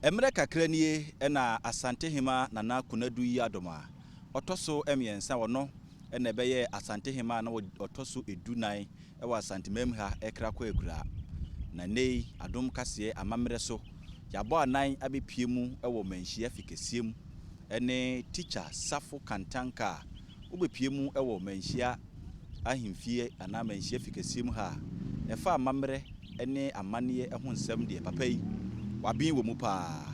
Mmerɛ kakra nie na Asantehema Nana Konadu Yiadom a ɔtɔ so mmiɛnsa, ɔno na ɛbɛyɛɛ Asantehema a na ɔtɔ so du nan wɔ Asantemam ha rekra kɔ akuraa. Na nnɛ yi adom kaseɛ amammerɛ so yɛabɔ anan abɛpue mu wɔ Manhyia Fikɛseɛ mu ne Tikya Safo Kantanka a wobepue mu wɔ manhyia ahemfie anaa manhyia fi kɛseɛ mu ha a, ɛfa amammerɛ ne amanneɛ ho nsɛm deɛ papa yi waben wɔ mu paa.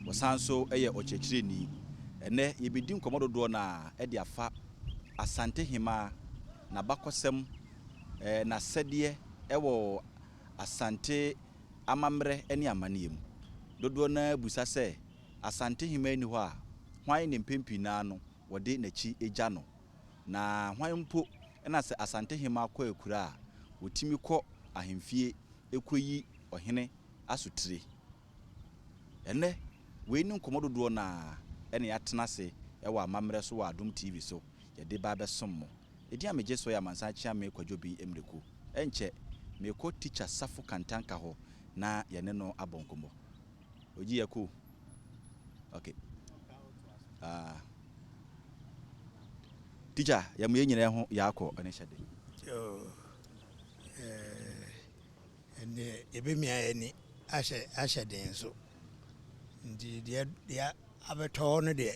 Ɔsan nso yɛ ɔkyerɛkyerɛni. Ɛnnɛ yɛbɛdi nkɔmmɔ dodoɔ no ara de afa Asante Hemaa, n'abakɔsɛm, n'asɛdeɛ wɔ Asante amammerɛ ne amanneɛ mu. Dodoɔ no ara bisa sɛ, Asante Hemaa nni hɔ a, hwan ne mpɛn pii no ara no wɔde n'akyi gya no. Na hwan mpo na sɛ Asantehemmaa kɔ akura a, ɔtumi kɔ ahemfie kɔyi ɔhene asotire? Ɛnnɛ, wei ne nkɔmmɔ dodoɔ no ara na yɛatena ase wɔ amammerɛ so wɔ Adom TV so yɛde ba abɛsom mo. Edin a megye soɔ yɛ Amansan Kyeame Kwadwo Obing Miraku. Ɛnkyɛ, merekɔ Tikya Safo Kantanka hɔ na yɛne no abɔ nkɔmmɔ. Ogyi yɛ cool. Okay. Ah. Teacher, yɛ mo yɛ nyina yɛ ho yɛ akɔ ɛne hyɛ de. Oh. Eh. Ɛne yɛ bɛ mia yɛ ni ahyɛ ahyɛ den nso. Nti deɛ deɛ abɛtɔ hɔ no deɛ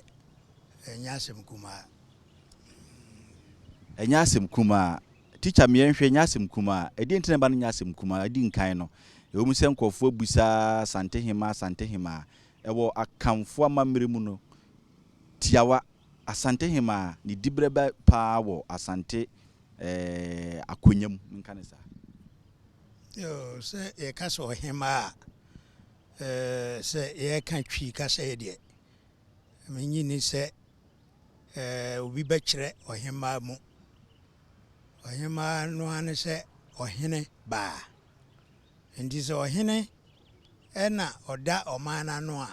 ɛnyɛ asɛm kumaa. Ɛnyɛ asɛm kumaa. Teacher me yɛ nhwɛ nyɛ asɛm kumaa ɛdeɛn nti na ɛba no nyɛ asɛm kumaa adi nkan no ɛwɔ mu sɛ nkorɔfoɔ abisa Asantehema Asantehema ɛwɔ Akanfoɔ amammerɛ mu no tiawa Asantehema ne diberɛ bɛ paa wɔ Asante ɛɛɛ akonya mu menka no saa. Yoo sɛ yɛka sɛ ɔhemaa a ɛɛɛ sɛ yɛka Twi kasaɛ deɛ mennye nni sɛ obi bɛkyerɛ ɔhemmaa mu. Ɔhemmaa no ara ne sɛ ɔhene baa. Enti sɛ ɔhene na ɔda ɔman no ano a,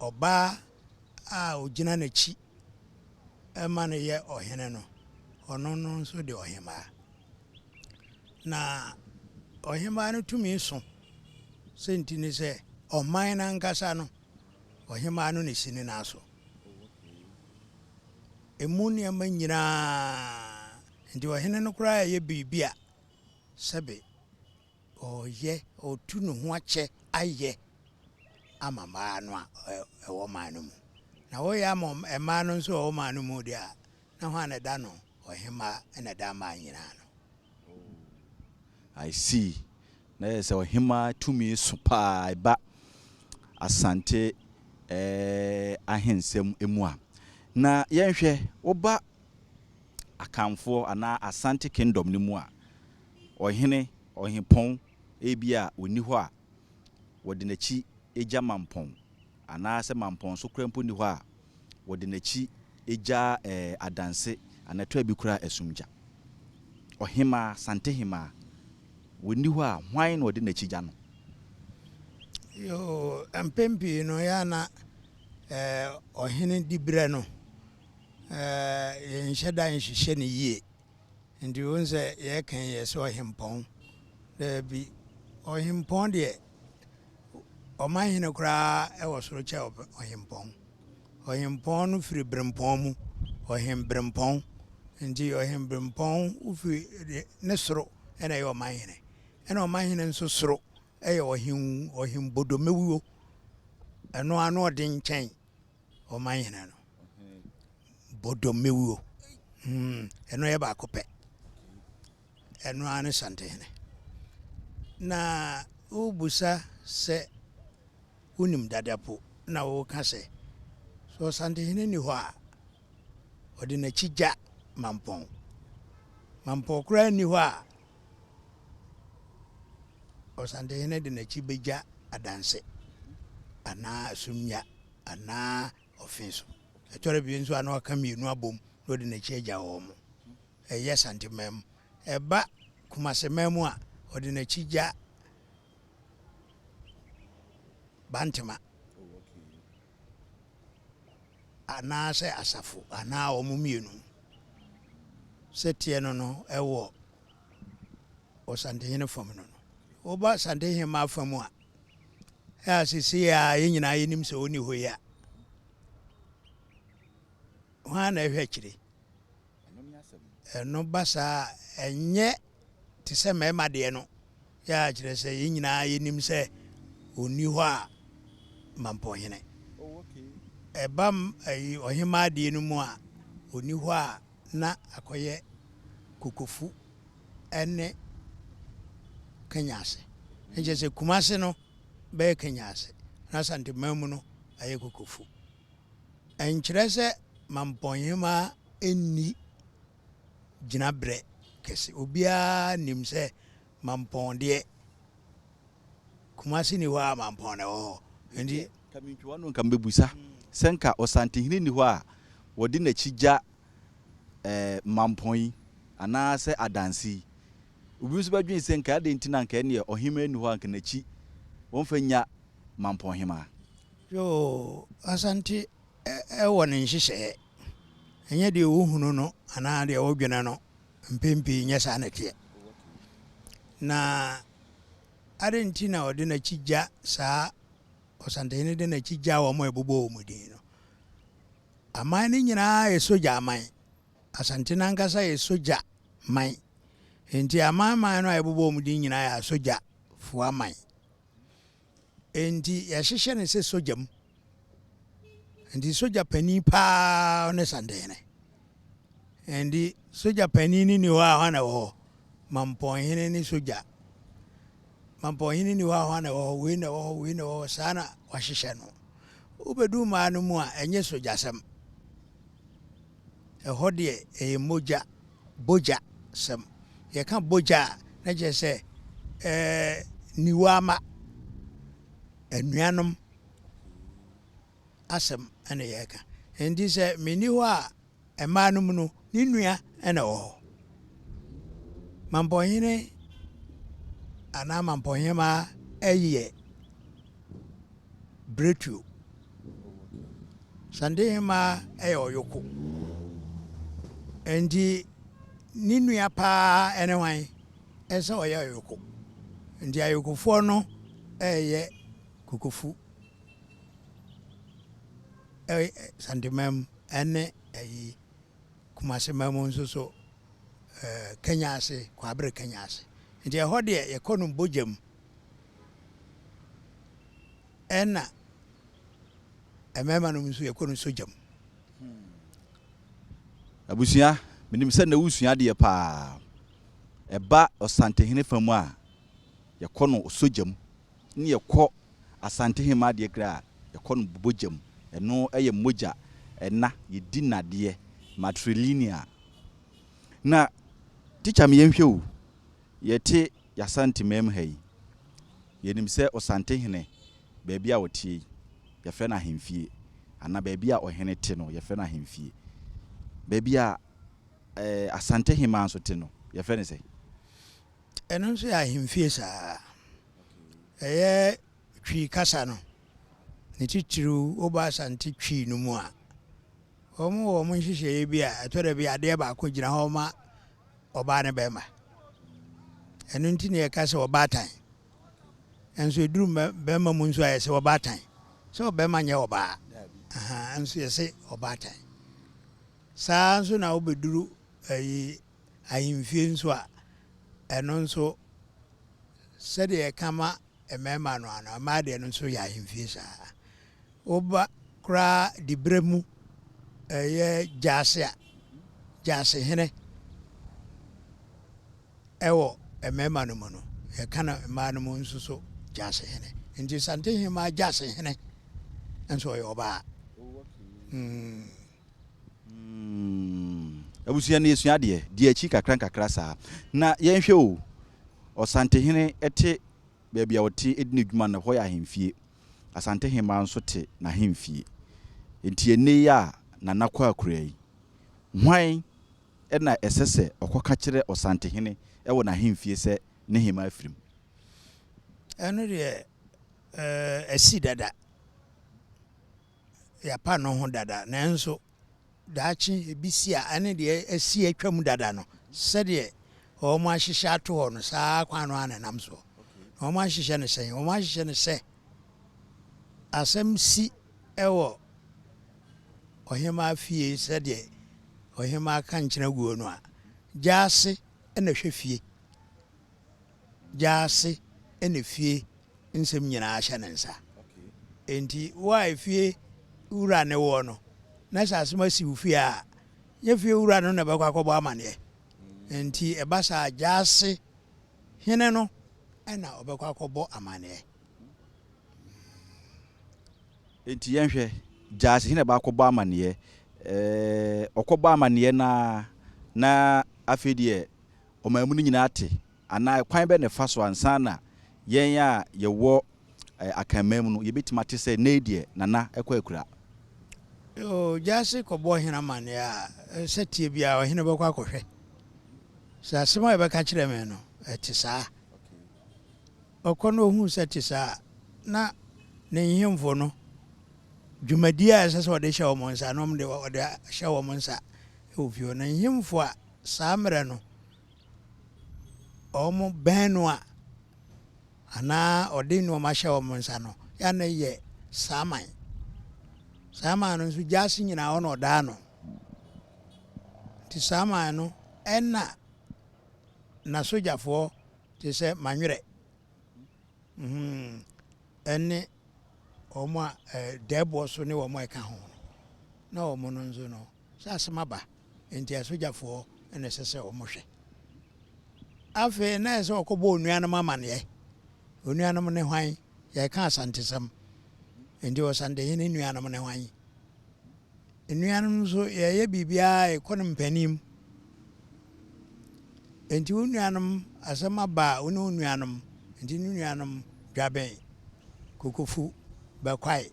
ɔbaa a ɔgyina n'akyi ma no yɛ ɔhene no, ɔno no nso de ɔhemmaa. Na ɔhemmaa no tumi so sɛ nti ne sɛ, ɔman no ankasa no Ɔhemmaa no na ɛsi ne nan so. Ɛmu nneɛma nyinaa, enti ɔhene no koraa reyɛ biribi a, sɛbe ɔreyɛ, ɔretu ne ho akyɛ ayɛ ama mmaa no a ɛwɔ ɔman no mu. Na woreyɛ ama mmaa no nso a ɛwɔ ɔman no mu deɛ a, Na hwan na ɛda no ɔhemma na ɛda aman nyinaa no? Oh, I see. Na yɛ sɛ ɔhemma tumi so paa ɛba Asante eh, ahensɛm mu a. Na yɛnhwɛ, woba Akanfoɔ anaa Asante Kingdom no mu a, ɔhene, ɔhempɔn, ebi a ɔnni hɔ a wɔde n'akyi gya mampɔn, anaasɛ mampɔn so koraa mpo nni hɔ a Wɔde n'akyi gyaa ɛɛ adanse anɛtɔ a bi kura asumgya. Ɔhemaa, Santehemaa, wɔnni hɔ a, hwan na ɔde n'akyi gya no? Yoo, mpɛn pii no, ɛyɛ a na ɛɛ ɔhene diberɛ no, ɛɛ yɛnhyɛ da nhwehwɛ no yie. Ntsi wohu sɛ yɛkã yi yɛse ɔhempɔn. Dabi, ɔhempɔn deɛ, ɔmanhene koraa wɔ soro kyɛ ɔhempɔn. Ɔhempɔn no firi berempɔn mu, ɔhemberempɔn. Ntsi ɔhemberempɔn firi ne soro na ɛyɛ ɔmanhene. Ɛna ɔmanhene nso soro yɛ ɔhen ɔhembodomewuo. Ɛno ara no ɔden kyɛn ɔma nyina no bodomewuo hmm ɛno yɛ baako pɛ ɛno ara ne santehene na wobusa sɛ wonim dadapo na woka sɛ sɛ ɔsantehene ni hɔ a ɔde n'akyi gya mampɔn mampɔn koraa nni hɔ a Ɔsɛnkɛhene de n'akyi begya adanse anaa asumnhya anaa ɔfe so. Ɛtɔ da bi nso a na waka mmienu abom na ɔde n'akyi agya wɔn. Ɛyɛ Santeman mu. Ɛba Kumaseman mu a, ɔde n'akyi gya Bantema anaasɛ asafo anaa wɔn mmienu. Sɛteɛ no no wɔ Ɔsantehene fam no no. Woba Asantehemmaa fa mu a, a seesei a yɛn nyinaa yɛnim sɛ ɔnni hɔ yi a, hwan na ɛhwɛ akyire? Ɛno ba saa a, ɛnyɛ te sɛ mmarima deɛ no, yɛ a kyerɛ sɛ yɛn nyinaa yɛnim sɛ ɔnni hɔ a mampɔnhene. Ɛba ɔhemmaa deɛ no mu a, ɔnni hɔ a na akɔyɛ kokofu ne Kanyase. Ɛnkyɛ sɛ Kumase no bɛyɛ Kanyase na Asanteman mu no ayɛ kokofu. Ɛnkyerɛ sɛ Mampɔnhema nni gyinabrɛ kɛse. Obiara nim sɛ Mampɔn deɛ, Kumasi nni hɔ a Mampɔn na ɛwɔ hɔ. Nti. Nka mentwi w'ano nka mebisa sɛ nka Ɔsantehene nni hɔ a wɔde n'akyi gya ɛɛ Mampɔn yi anaa sɛ Adansi yi. Obi nso bɛdwen sɛ nka adɛn nti na nka ɛneɛ Ɔhemaa nni hɔ a nka n'akyi wɔmfa nnya Mampɔnhema. Yoo Asante wɔ ne nhyehyɛɛ, ɛnyɛ deɛ wohunu no anaa deɛ wodwene no, mpɛn pii nyɛ saa na ɛteɛ. Na adɛn nti na ɔde n'akyi gya saa Ɔsantehene de n'akyi gya wɔn a ɛbobɔ wɔn din no? Aman no nyinaa yɛ sogya aman. Asante no ankasa yɛ sogya man. Enti aman man no a yɛbobɔ wɔn din nyinaa yɛ asogyafoɔ aman. Enti yɛhyehyɛ no sɛ sogya mu. Enti sogya panin paa ne Santehene. Enti sogya panin no ni hɔ a hɔ na ɛwɔ hɔ. Mampɔnhene ne sogya. Mampɔnhene ni hɔ a hɔ na ɛwɔ hɔ. Wei na ɛwɔ hɔ, wei na ɛwɔ hɔ. Saa na wɔahyehyɛ no. Wobɛdu mmaa no mu a, ɛnyɛ sogyasɛm. Ɛhɔ deɛ ɛyɛ mogya, bogya, sɛm. Yɛka bogya a, na kyerɛ sɛ niwaama, anuanom asɛm na yɛreka. Enti sɛ menni hɔ a, mmaa no mu no, ne nua na ɛwɔ hɔ. Mampɔnhene anaa mampɔnhemmaa yɛ berɛtuo. Sandihema yɛ ɔyoko, nti ne nua paa ne hwan? Ɛsɛ sɛ ɔyɛ ɔyoko. Nti ayokofoɔ no reyɛ kokofu wɔ Sandema mu ne ayi Kumase ma mu nso so Kenya ase, Kwabre Kenya ase. Nti ɛhɔ deɛ yɛkɔ no bogya mu. Ɛna mmarima nom nso yɛkɔ no sogya mu. Abusua, menim sɛ nnɛ wosua adeɛ paa. Ɛba Ɔsantehene fa mu a, yɛkɔ no sogya mu. Ne yɛkɔ Asantehemmaa deɛ kra a, yɛkɔ no bogya mu. Ɛno yɛ mogya ɛna, yɛdi nnadeɛ, matrilineal. Na tikya me yɛnhwɛ o, yɛte Y'Asanteman-mu ha yi, yɛnim sɛ Osantehene, baabi a ɔteɛ yi, yɛfrɛ no Ahemfie, anaa baabi a Ɔhene te no, yɛfrɛ no Ahemfie. Baabi a eh, Asanteheman nso te no, yɛfrɛ no sɛn? Ɛno nso yɛ Ahemfie saa ara. Ɛyɛ Twi kasa no, ne titiriw woba Asante Twi no mu a, wɔwɔ wɔn nhyehyɛeɛ bi a ɛtɔ da bi adeɛ baako gyina hɔ ma ɔbaa ne bɛrima. Ɛno nti na yɛka sɛ ɔbaatan. Nanso ɛduru bɛrima mu nso a yɛse ɔbaatan. Sɛ ɔbɛrima nyɛ ɔbaa. Ahaa, nso yɛse ɔbaatan. Saa nso na wobɛduru ayi ahemfie nso a, ɛno nso sɛdeɛ yɛka ma mmarima no ano, mmaa deɛ no nso yɛ ahemfie saa. Woba koraa diberɛ mu yɛ gyaase a, gyaasehene wɔ mmarima no mu no, yɛka no mmaa no mu nso so gyaasehene. Nti Santehemmaa gyaasehene nso ɔyɛ ɔbaa. Mm. Mm. Abusua no yɛsua adeɛ. Di akyi nkakra nkakra saa. Na yɛnhwɛ o, Ɔsantehene te baabi a ɔte di n'adwuma no, hɔ yɛ ahemfie. Asante hemmaa nso te n'ahemfie. Enti ɛnnɛ yi a Nana kɔ akura yi, hwan na ɛsɛ sɛ ɔkɔka kyerɛ Ɔsantehene wɔ n'ahemfie sɛ ne hemmaa afiri mu? Ɛno deɛ, ɛɛ, asi dada. Yɛapa no ho dada. Nanso. daakye ɛbɛsi a ɛne deɛ asi atwam dada no, sɛdeɛ wɔahyehyɛ ato hɔ no, saa kwan no ara na ɛnam soɔ. Na wɔahyehyɛ no sɛn? Wɔahyehyɛ no sɛ asɛm si wɔ ɔhemmaa fie sɛdeɛ ɔhemmaa ka nkyena guo no a, gyaase na ɛhwɛ fie. gyaase na fie nsɛm nyinaa hyɛ ne nsa. Enti wo a efie wura ne woɔ no, na sɛ asɛm asi wo fie a, nyɛ fie wura no na ɛbɛkɔ akɔbɔ amanneɛ. Enti ɛba saa a, gyaase hene no na ɔbɛkɔ akɔbɔ amanneɛ. Enti yɛnhwɛ, gyaase hene na ɛba akɔbɔ amanneɛ. Ɛɛ, ɔkɔbɔ amanneɛ no ara na afei deɛ ɔman mu no nyinaa te, anaa kwan bɛn na ɛfa so ansa na yɛn a yɛwɔ Akanman mu no yɛbɛtumi ate sɛ nnɛ yi deɛ Nana kɔ akura? Yoo, Gyasi kɔbɔ ɔhene amanneɛ a, sɛteɛ biara ɔhene bɛkɔ akɔhwɛ. Sɛ asɛm a yɛbɛka akyerɛ me no, ɛte saa a, ɔkɔ na ɔhu sɛ ɛte saa a, na ne nhemfo no, dwumadie a ɛsɛ sɛ ɔde hyɛ wɔn nsa no, wɔn de, ɔde hyɛ wɔn nsa wɔ fie hɔ. Na nhemfo a. saa mmerɛ no, wɔn bɛn no a, anaa ɔde nnoɔma hyɛ wɔn nsa no, ya no yɛ saa man. Saa man no nso, gyaase nyinaa hɔ na ɔdaa no. Nti saa man no, ɛna n'asogyafoɔ te sɛ manwerɛ, ɛne wɔn a dɛɛboɔ so ne wɔn a ɛka ho no, na wɔn no nso no, sɛ asɛm aba nti asogyafoɔ na ɛsɛ sɛ wɔhwɛ. Afei na ɛsɛ sɛ wɔkɔbɔ onua no amanneɛ. Onua no ne hwan? Yɛreka Asantesɛm nti Ɔsantehene nua no ne hwan? Nnua no nso yɛyɛ biribiara ɛkɔ no mpanim. Nti wo nuanom asɛm aba a wo ne wo nuanom nti ne nuanom dwaben kokofu bɛkwae.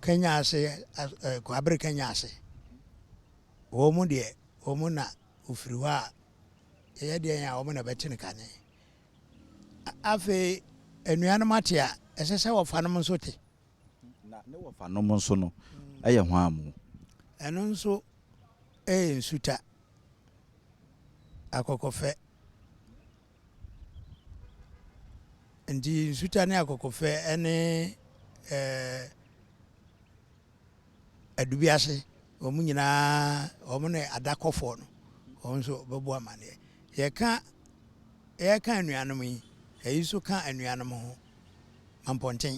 Kenya ase Kwabere Kenya ase. Wɔn deɛ, wɔn na wɔfiri hɔ a, ɛyɛ deɛn a wɔn na ɛbɛte no kane. Afei, anuanom ate a, ɛsɛ sɛ wɔfanom nso te. Na ne wɔfanom nso no yɛ hwan mu? Ɛno nso yɛ nsuta, akɔkɔfɛ. Enti nsuta ne akokofɛ ne adubiase wɔn nyinaa wɔn ne adakɔfoɔ no wɔn nso bɛbɔ amaneɛ. Yɛka yɛka anuanom yi ɛyi nso ka anuanom ho mampɔnten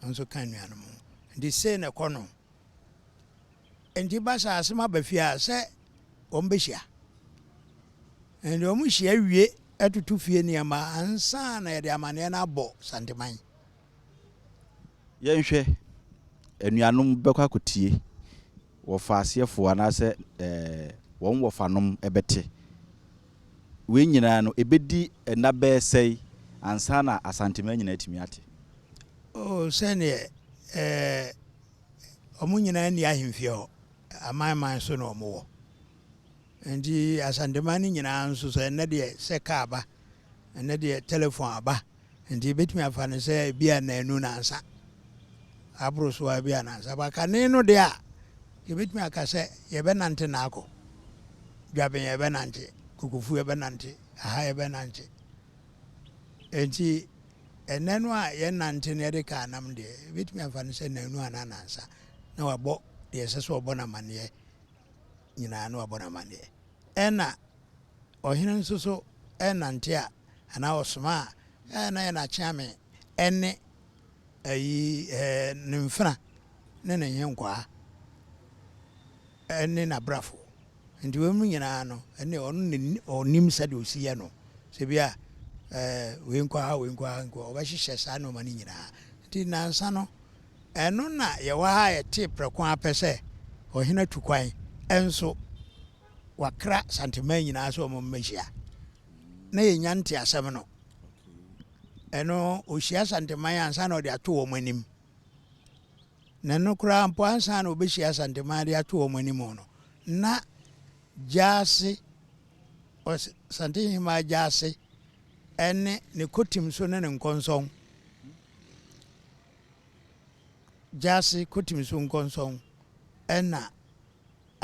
nso ka anuanom ho nti sei na ɛkɔ no nti ba sɛ asɛm aba fie a sɛ wɔn bɛhyia. Ɛnde wɔhyia wie toto fie nneɛma ansa na yɛde amanneɛ no abɔ Santeman. Yɛnhwɛ, Anuanom bɛkɔ akɔtie, wɔfaaseɛfoɔ anaasɛ wɔn wɔfanom bɛte. Wei nyinaa no, ɛbɛdi nna bɛyɛ sɛn ansa na Asanteman nyinaa atumi ate? Oh, sɛdeɛ wɔn nyinaa nni ahemfie hɔ, aman man so na wɔwɔ. Enti Asantema no nyinaa nso sɛ ɛnnɛ deɛ sɛ car ba, ɛnnɛ deɛ telephone aba, enti yɛbɛtumi afa no sɛ ebi a nnanu nansa aboro so ara bi a nansa aba. Kane no deɛ a, yɛbɛtumi aka sɛ yɛbɛnante no akɔ. Dwaben yɛbɛnante, Kokofu yɛbɛnante, aha yɛbɛnante. Enti ɛnnɛ no a yɛnante no yɛde car nam deɛ, yɛbɛtumi afa no sɛ nnanu anaa nansa na wabɔ deɛ ɛsɛ sɛ ɔbɔ no amanneɛ. nyinaa na wabɔ no amanneɛ. Ɛnna ɔhene nso so nante a, anaa ɔsoma a, ɛɛ na ɛyɛ n'akyeame ne ayi ɛɛ ne mfena ne ne nhenkwaa ne n'abrafo. Nti weinom nyinaa no, ɛnneɛ ɔno na ɔnim sɛdeɛ ɔsi yɛ no. Sɛ bi a ɛɛ wei nkɔ ha, wei nkɔ ha, wei nkɔ hɔ, ɔbɛhyehyɛ saa nneɛma no nyinaa. Nti nnansa no, Ɛno na yɛwɔ ha a yɛtee prɛko ara pɛ sɛ ɔhene atu kwan, nso wakra Santeman nyinaa sɛ wɔmmɛhyia na yɛnya nteasɛm no. Ɛno, ɔhyia Santeman ansa na ɔde ato wɔn anim. Na ɛno koraa mpo, ansa na ɔbɛhyia Santeman de ato wɔn anim no, na Gyaase, Santehemaa Gyaase ne ne kotim so ne ne nkɔnsɔn Gyase kotim so nkɔnsɔn na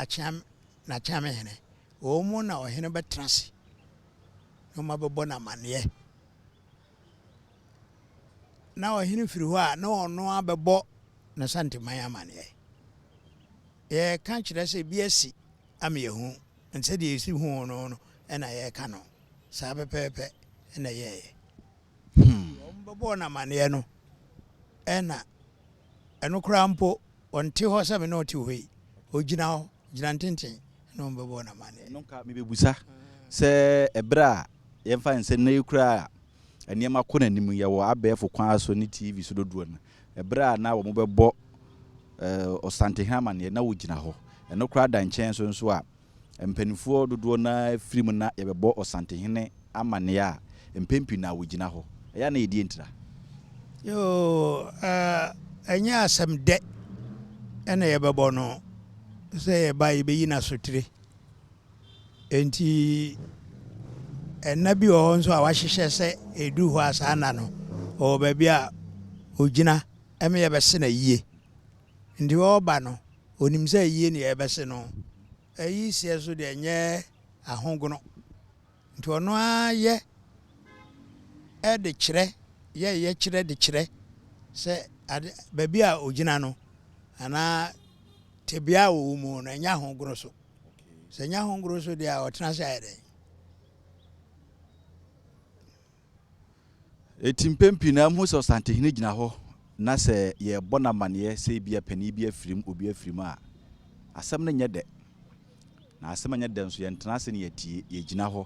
akyeam n'akyeame hene, wɔn mu na ɔhene bɛtena ase na wɔabɛbɔ no amanneɛ. Na ɔhene firi hɔ a, na ɔno ara bɛbɔ n'Asanteman amanneɛ. Yɛreka kyerɛ sɛ bi asi ama yɛahu no sɛdeɛ yɛsi hu no no na yɛreka no. Saa pɛpɛɛpɛ na ɛyɛeɛ. Hmm. Deɛ wɔbɛbɔɔ no amaneɛ no, ɛna ɛno koraa mpo, ɔnte hɔ sɛ me ne ɔte hɔ yi. Ɔgyina hɔ, gyina ntenten na wɔbɛbɔɔ no amaneɛ. Ɛno nka mebɛbusa sɛ ɛberɛ a yɛmfa nsɛ nnɛ yi koraa a nneɛma kɔ n'anim, yɛwɔ abɛɛfo kwan so ne TV so dodoɔ no, ɛberɛ a na wɔbɛbɔ Ɔsantehene amaneɛ, na ɔgyina hɔ. Ɛno koraa da nkyɛn so nso a, Mpanimfoɔ dodoɔ no ara firi mu na yɛbɛbɔ Ɔsantehene amanneɛ a, mpɛn pii no na wɔgyina hɔ. Ɛyɛ a na yɛdi ntira. Yoo, ɛnyɛ asɛm dɛ na yɛbɛbɔ no sɛ yɛba a yɛbɛyi no asotire. Enti nna bi wɔ hɔ nso a wɔahyehyɛ sɛ ɛduru hɔ a saa nna no ɔwɔ baabi a ɔgyina ma yɛbɛse no ayie. Nti ɔreba no, ɔnim sɛ ayie na yɛrebɛse no. Ayi seɛ so deɛ nyɛ ahogono. Nti ɔno ara yɛ de kyerɛ, yɛ yɛ kyerɛ de kyerɛ sɛ ade, baabi a ɔgyina no anaa tebea a ɔwɔ mu no ɛnyɛ ahogono so. Sɛ ɛnyɛ ahogono so deɛ a ɔtena ase ayɛ dɛn? Enti mpɛn pii no amuhu sɛ Ɔsantehene gyina hɔ na sɛ yɛrebɔ no amanneɛ sɛ ebia panin bi afirim, obi afirim a, asɛm no nyɛ dɛ. Na asɛm anyɛ dɛ nso, yɛntena ase na yɛatie, yɛgyina hɔ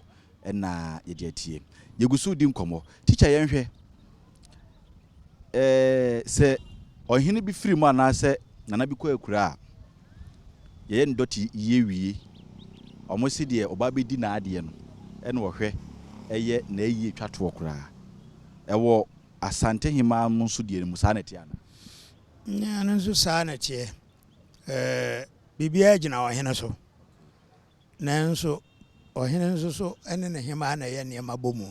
na yɛde atie. Yɛgu so redi nkɔmmɔ. Tikya yɛnhwɛ eh, sɛ ɔhene bi firim anaasɛ nana bi kɔ akuraa a, yɛyɛ no dɔte yie wie a, wɔn se deɛ ɔba bɛdi n'adeɛ no na wɔhwɛ yɛ na ayie twa toɔ koraa. Ɛwɔ Asantehemaa mu nso deɛ mu saa na ɛteɛ anaa? Nyaa ɛno nso saa na ɛteɛ. Biribiara gyina ɔhene so. Nanso ɔhene nso so ne ne hemaa na ɛyɛ nneɛma bɔ mu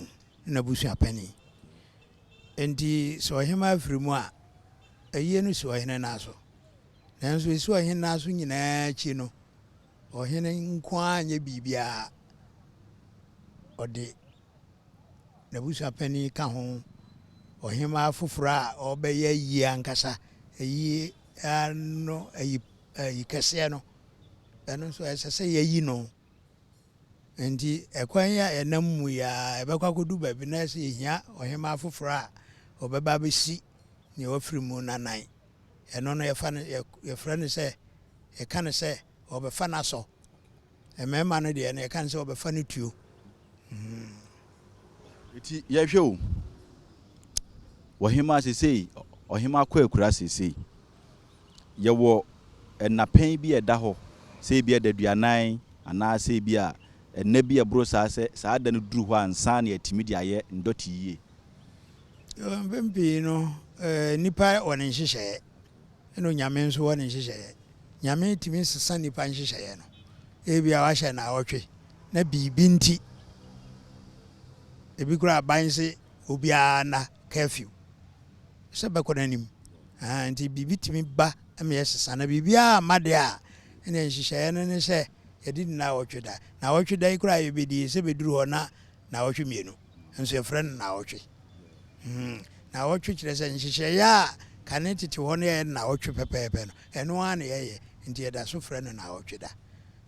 ne n'abusua panin. Enti sɛ ɔhemaa firi mu a, ayie no si ɔhene nan so. Nanso esu a ɔhene no aso nyinaa akyi no, ɔhene nko ara anyɛ biribiara, ɔde n'abusua panin ka ho, ɔhemmaa foforo a ɔbɛyɛ ayie ankasa, ayie no ayi ayi kɛseɛ no, ɛno nso ɛsɛ sɛ yɛyi no. Nti ɛkwan yi a yɛnam mu yi ara ɛbɛkɔ akɔdu baabi na ɛsɛ yɛhia ɔhemmaa foforo a ɔbɛba abɛsi nea wafiri mu no anan. Ɛno no yɛfa no yɛ yɛfrɛ no sɛ yɛka no sɛ wɔbɛfa no asɔ. Mmarima no deɛ no yɛka no sɛ wɔbɛfa no tuo. Mm. Eti yɛhwɛ o. Ɔhema sesei, ɔhema kɔ akura sesei. Yɛwɔ nnapɛn bi a ɛda hɔ sɛ ebi a daduanan anaa sɛ ebi a nna bi a ɛboro saa sɛ saa da no duru hɔ a nsa na yɛatumi de ayɛ ndɔte yie. Mpɛn pii no, nipa wɔ ne nhyehyɛeɛ ɛna Onyame nso wɔ ne nhyehyɛeɛ. Nyame tumi sesa nipa nhyehyɛeɛ no. Ebia wahyɛ naawɔtwe na biribi nti, ebi koraa aban se obiara nna curfew sɛ bɛkɔ n'anim. Ahaa, nti biribi tumi ba ma yɛsesa. Na biribiara amma deɛ a, ɛneɛ nhyehyɛeɛ no ne sɛ yɛde di naawɔtwe da. Naawɔtwe da yi koraa a yɛbɛdie, sɛ bɛduru hɔ na naawɔtwe mmienu nso yɛfrɛ no naawɔtwe. Naawɔtwe kyerɛ sɛ nhyehyɛeɛ a kane tete hɔ no yɛyɛ no naawɔtwe pɛpɛɛpɛ no, ɛno ara na yɛyɛ nti yɛda so frɛ no naawɔtwe da.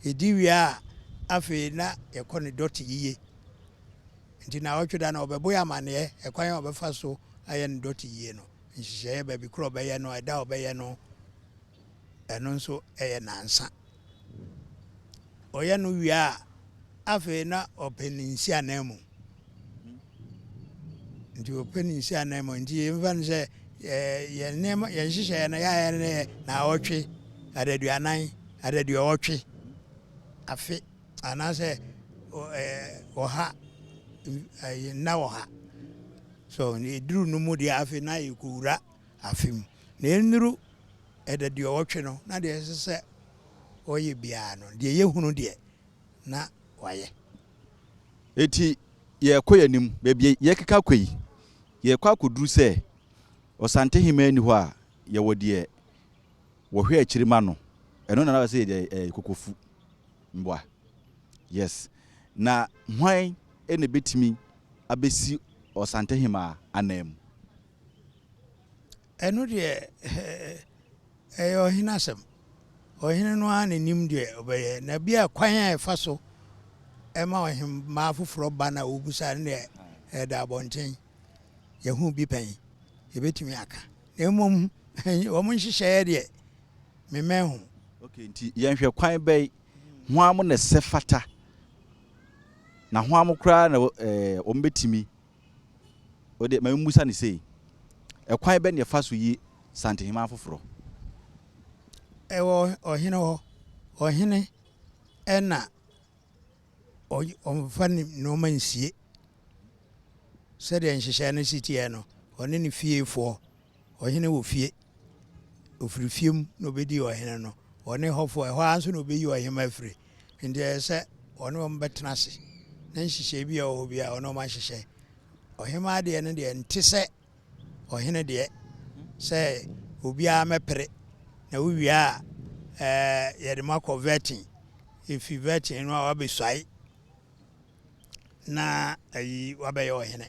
Yɛdi wie a, afei na yɛkɔ ne dɔte yiye. Nti naawɔtwe da no wɔbɛbɔ yɛ amanneɛ ɛkwan a wɔbɛfa so ayɛ ne dɔte yie no, nhyehyɛeɛ baabi korɔ a wɔbɛyɛ no, ɛda a wɔbɛyɛ no, Ɛno nso yɛ nnansa. Ɔyɛ no wie a, afei na ɔpɛ ne nhyiananmu. Nti ɔpɛ ne nhyiananmu. Nti yɛmfa no sɛ yɛn nneɛma yɛn nhyehyɛeɛ no yɛayɛ no yɛ naawɔtwe adaduanan adaduɔwɔtwe afe anaasɛ ɔha nna ɔha so ɛduru no mu deɛ afei na yɛkɔwura afe mu, na ɛnnuru ɛdaduɔwɔtwe no na deɛ ɛsɛ sɛ ɔyɛ biara no, deɛ yɛhunu deɛ, na wayɛ. Enti yɛrekɔ yɛn anim, baabi yɛrekeka akɔ yi, yɛrekɔ akɔduru sɛ Ɔsantehemmaa nni hɔ a, yɛwɔ deɛ wɔhwɛ akyiri ma no, ɛno na na wɔsɛ yɛde yɛ kokofu mboa. Yes. Na hwan na ɛbɛtumi abɛsi Ɔsantehemmaa ananmu? Ɛno deɛ ɛyɛ ɔhene asɛm. Ɔhene no ara na nim deɛ ɔbɛyɛ. Na bi a kwan a ɛfa so ɛma ɔhemmaa foforɔ ba na ɔbisa no deɛ ɛda abɔnten. Yɛhu bi pɛn. Yɛbɛtumi aka. Na mmom wɔn nhyehyɛeɛ deɛ memmɛn ho. Ok, nti yɛnhwɛ kwan bɛn hwan mo na ɛsɛ fata na hwan mo koraa na wɔbɛtumi O de, ma yemmisa no sei, Ɛkwan bɛn na yɛfa so yi santeheman foforɔ? Ɛwɔ ɔhene hɔ. Ɔhene na ɔmfa ne nnoɔma nsie. Sɛdeɛ nhyehyɛeɛ no si teɛ no, ɔne ne fiefoɔ. Ɔhene wɔ fie. Ɔfiri fie mu na ɔbɛdi ɔhene no. Ɔne hɔfoɔ, ɛhɔ ara nso na ɔbɛyi ɔhemma afiri. Enti ɛyɛ sɛ ɔne wɔn bɛtena ase na nhyehyɛeɛ bi a ɛwɔ hɔ biara ɔne wɔn ahyehyɛ. Ɔhemmaa deɛ no deɛ nte sɛ ɔhene deɛ sɛ obiara mɛpere na wowie a ɛɛ yɛde mo akɔ vetting efi vetting no a wabɛsuae na ayi wabɛyɛ ɔhene.